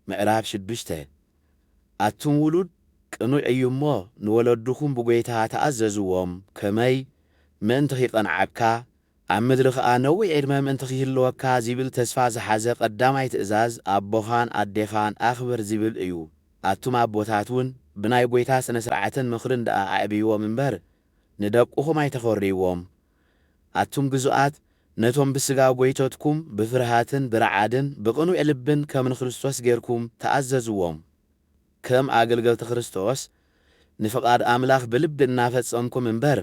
ምዕራፍ ሽዱሽተ፣ ኣቱም ውሉድ፣ ቅኑዕ እዩ እሞ፣ ንወለድኹም ብጐይታ ተኣዘዝዎም፣ ከመይ፣ ምእንቲ ኺቐንዓካ፣ ኣብ ምድሪ ኸኣ ነዊሕ ዕድመ ምእንቲ ኺህልወካ ዚብል ተስፋ ዝሓዘ ቐዳማይ ትእዛዝ፣ ኣቦኻን ኣዴኻን ኣኽብር ዚብል እዩ። ኣቱም ኣቦታትውን፣ ብናይ ጐይታ ስነ-ስርዓትን ምኽርን ደኣ ኣዕብይዎም እምበር፣ ንደቅኹም ኣይተዀርይዎም። ኣቱም ግዙኣት፣ ነቶም ብሥጋ ጐይቶትኩም ብፍርሃትን ብረዓድን ብቕኑዕ ልብን ከም ንክርስቶስ ጌርኩም ተኣዘዝዎም። ከም ኣገልገልቲ ክርስቶስ ንፍቓድ ኣምላኽ ብልቢ እናፈጸምኩም እምበር፣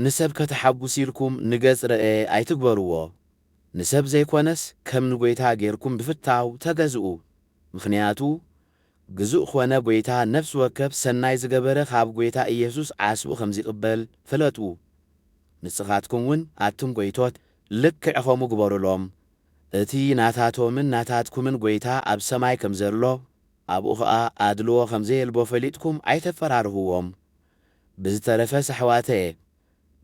ንሰብ ከተሓጉሱ ኢልኩም ንገጽ ረእየ ኣይትግበርዎ። ንሰብ ዘይኮነስ ከም ንጐይታ ጌርኩም ብፍታው ተገዝኡ። ምኽንያቱ፣ ግዙእ ኾነ ጐይታ ነፍሲ ወከፍ ሰናይ ዝገበረ ኻብ ጐይታ ኢየሱስ ዓስቡ ኸም ዚቕበል ፍለጡ። ንስኻትኩምውን ኣቱም ጐይቶት ልክዕ ኸምኡ ግበሩሎም። እቲ ናታቶምን ናታትኩምን ጐይታ ኣብ ሰማይ ከም ዘሎ ኣብኡ ኸኣ ኣድልዎ ኸም ዘየልቦ ፈሊጥኩም ኣይተፈራርህዎም። ብዝተረፈስ ኣሕዋተየ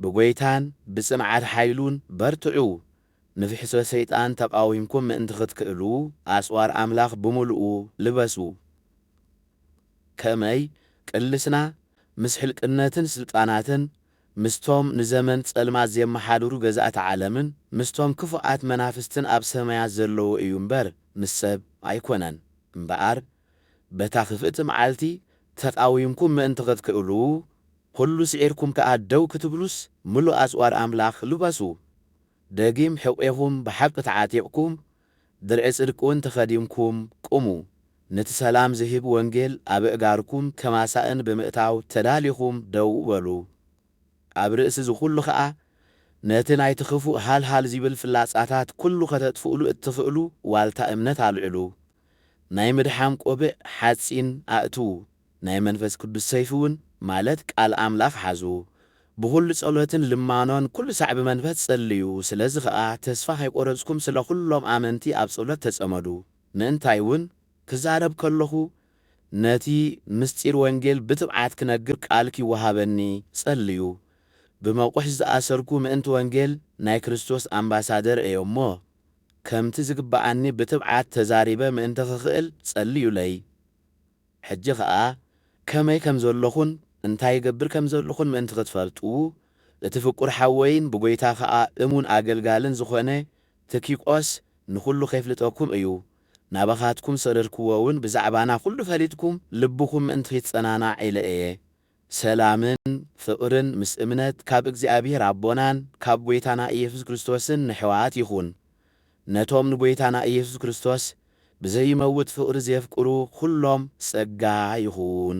ብጐይታን ብጽንዓት ሓይሉን በርትዑ ንፍሕሶ ሰይጣን ተቓዊምኩም ምእንቲ ኽትክእሉ፣ ኣጽዋር ኣምላኽ ብምሉኡ ልበሱ። ከመይ ቅልስና ምስ ሕልቅነትን ስልጣናትን፣ ምስቶም ንዘመን ጸልማት ዜመሓድሩ ገዛእቲ ዓለምን፣ ምስቶም ክፉኣት መናፍስትን ኣብ ሰማያት ዘለዉ እዩ እምበር፣ ምስ ሰብ ኣይኰነን። እምበኣር፣ በታ ክፍእቲ መዓልቲ ተቓዊምኩም ምእንቲ ኽትክእሉ፣ ዅሉ ስዒርኩም ከኣ ደው ክትብሉስ፣ ምሉእ ኣጽዋር ኣምላኽ ልበሱ። ደጊም ሕቝኤኹም ብሓቂ ተዓጢቕኩም፣ ድርዒ ጽድቂውን ተኸዲንኩም ቁሙ። ነቲ ሰላም ዚህብ ወንጌል ኣብ ኣእጋርኩም ከም ኣሳእን ብምእታው ተዳሊኹም ደው በሉ። ኣብ ርእሲ እዚ ዅሉ ኸኣ፣ ነቲ ናይቲ ኽፉእ ሃልሃል ዚብል ፍላጻታት ኵሉ ኸተጥፍኡሉ እትኽእሉ ዋልታ እምነት ኣልዕሉ። ናይ ምድሓን ቆብዕ፣ ሓጺን፣ ኣእትዉ፣ ናይ መንፈስ ቅዱስ ሰይፊ ውን ማለት ቃል ኣምላኽ ሓዙ፣ ብኹሉ ጸሎትን ልማኖን ኩሉ ሳዕ ብመንፈስ ጸልዩ፣ ስለዚ ኸኣ ተስፋ ከይቆረጽኩም ስለ ኩሎም ኣመንቲ ኣብ ጸሎት ተጸመዱ፣ ምእንታይ ውን ክዛረብ ከለኹ ነቲ ምስጢር ወንጌል ብትብዓት ክነግር ቃል ኪወሃበኒ ጸልዩ፣ ብመቑሕ ዝኣሰርኩ ምእንቲ ወንጌል ናይ ክርስቶስ ኣምባሳደር እየ እሞ፣ ከምቲ ዝግብኣኒ ብትብዓት ተዛሪበ ምእንቲ ክኽእል ጸልዩለይ። ሕጂ ከኣ ከመይ ከም ዘሎኹን እንታይ እገብር ከም ዘልኹን ምእንቲ ክትፈልጡ፣ እቲ ፍቁር ሓወይን ብጐይታ ከኣ እሙን ኣገልጋልን ዝኾነ ትኪቆስ ንኹሉ ኼፍልጠኩም እዩ፣ ናባኻትኩም ሰደድክዎውን ብዛዕባና ኹሉ ፈሊጥኩም ልብኹም ምእንቲ ኺጸናናዕ ኢለ እየ። ሰላምን ፍቅርን ምስ እምነት ካብ እግዚኣብሔር ኣቦናን ካብ ጐይታና ኢየሱስ ክርስቶስን ነሕዋት ይኹን። ነቶም ንጐይታና ኢየሱስ ክርስቶስ ብዘይመውት ፍቅሪ ዜፍቅሩ ኹሎም ጸጋ ይኹን።